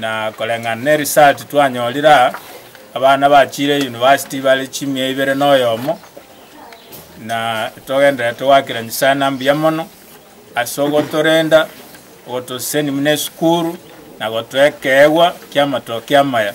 Na koreng'ana ne research twanyorire aa, abana bachire university bare chimia ibere na oyomo, na togenderera togoakera Nyasae ng'a mbuya mono ase ogotorenda, ogotoseseni buna esukuru, na gotoa ekeegwa ki'amatokia amaya.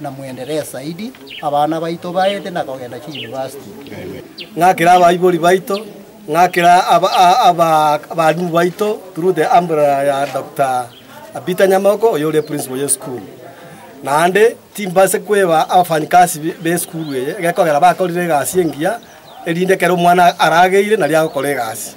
na mwenderee zaidi, abana baito baete na kogenda chiyunivasiti. Ng'akera abaibori baito, ng'akera abalimu baito through the umbrella ya Doctor Peter Nyamoko oyo ore principal y'esukuru. Naende timbaise kweba abafanyikasi b'esukuru eye, gekogera bakorire egasi engiya, erinde ekero omwana arageire nario agokora egasi.